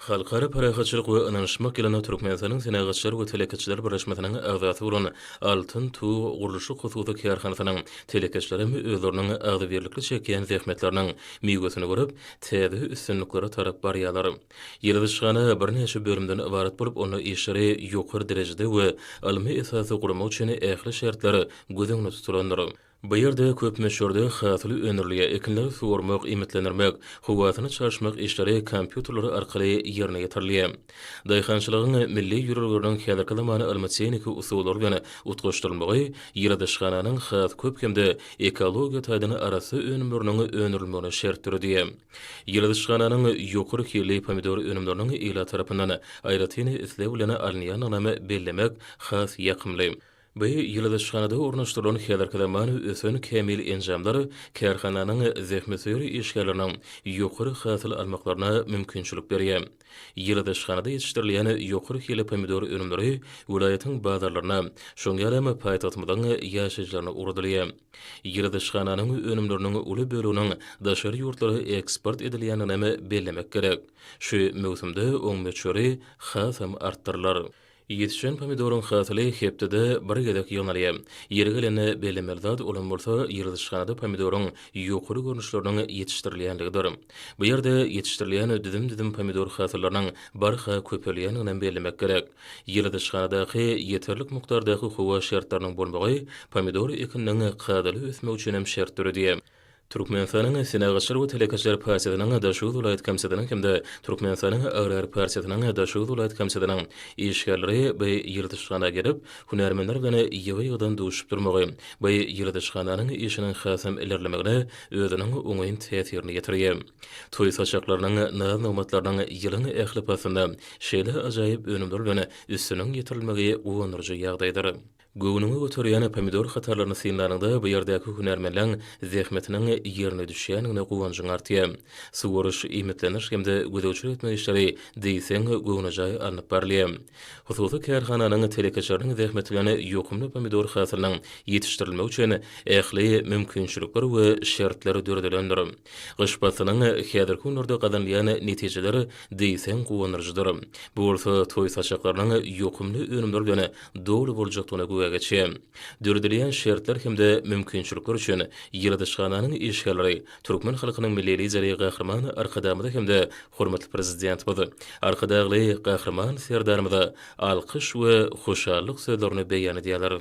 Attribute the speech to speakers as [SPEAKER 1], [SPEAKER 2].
[SPEAKER 1] Halkara parahatçylyk we ynanyşmak ýylyna Türkmenistanyň Senagatçylar we telekeçiler birleşmesiniň agzasy bolan Altyn tug gurluşyk hususy kärhanasynyň telekeçileri hem özleriniň agzybirlikli çekýän zähmetleriniň miwesini görüp, täze üstünliklere tarap barýarlar. Ýyladyşhana birnäçe bölümden ybarat bolup, onda işleri ýokary derejede we ylmy esasda gurmak üçin ähli şertler göz öňünde tutulandyr. Bu ýerde köp möçberde hasyly öndürilýär, ekinleri suwarmak, iýmitlendirmek, howasyny çalyşmak işleri kompýuterler arkaly ýerine ýetirilýär. Daýhançylygyň milli ýörelgeleriniň häzirki zaman ylmy-tehniki usullary bilen utgaşdyrylmagy ýyladyşhananyň has köp hem-de ekologiýa taýdan arassa önümleriniň öndürilmegine şert döredýär. Ýyladyşhananyň ýokary hilli pomidor önümleriniň ilat tarapyndan aýratyn isleg bilen alynýandygynam bellemek has ýakymly. Bu ýyladyşhanada ornaşdyrylan häzirki zaman ösen kämil enjamlar kärhananyň zähmetsöýer işgärleriniň ýokary hasyl almaklaryna mümkinçilik berýär. Ýyladyşhanada ýetişdirilýän ýokary hili pomidor önümleri welaýatyň bazarlaryna, şoň ýaly hem paýtagtymyzyň ýaşaýjylaryna ugradylýar. Ýyladyşhananyň önümleriniň uly böleginiň daşary ýurtlara eksport edilýändigini hem bellemek gerek. Şu möwsümde oň möçberi hasam artdyrylar. Ýetişen pomidoryň hasyly hepdede bir gezek ýygnalýar. Ýeri gelende bellemeli zat olam bolsa ýyladyşhanada pomidoryň ýokary görnüşleriniň ýetişdirilýänligidir. Bu ýerde ýetişdirilýän düzüm-düzüm pomidor hasyllarynyň barha köpelýändiginem bellemek gerek. Ýyladyşhanadaky ýeterlik mukdardaky howa şertleriniň bolmagy pomidor ekininiň kadaly ösmegi üçinem şert döredýär. Türkmenistanyň Senagatçylar we telekeçiler partiýasynyň Daşoguz welaýat komitetynyň hem-de Türkmenistanyň Agrar partiýasynyň Daşoguz welaýat komitetynyň işgärleri bu ýyladyşhana gelip, hünärmenler bilen ýygy-ýygydan duşup durmagy bu ýyladyşhananyň işiniň hasam ilerlemegine özüniň oňyn täsirini ýetirýär. Toý saçaklarynyň, naz-nygmatlarynyň ýylyň ähli paslynda şeýle ajaýyp önümler bilen üstüniň ýetirilmegi guwandyryjy ýagdaýdyr. Göwnüňi göterýän pomidor hatarlaryny synlanyňda bu ýerdäki hünärmenleň zähmetiniň ýerine düşýändigine guwanjyň artýar. Suwaryş, iýmitleniş hem-de gözegçilik etmek işleri diýseň göwnejaý alnyp barylýar. Hususy kärhananyň telekeçileriniň zähmeti bilen ýokumly pomidor hasylynyň ýetişdirilmegi üçin ähli mümkinçilikler we şertler döredilendir. Gyş paslynyň häzirki günlerde gazanylýan netijeler diýseň guwandyryjydyr. Bu bolsa toý saçaklarynyň ýokumly önümler bilen doly boljakdygyna güwä geçýär. Döredilýän şertler hem-de mümkinçilikler üçin ýyladyşhananyň işgärleri türkmen halkynyň Milli Lideri Gahryman Arkadagymyza hem-de hormatly Prezidentimiz Arkadagly Gahryman Serdarymyza alkyş we hoşallyk sözlerini beýan edýärler.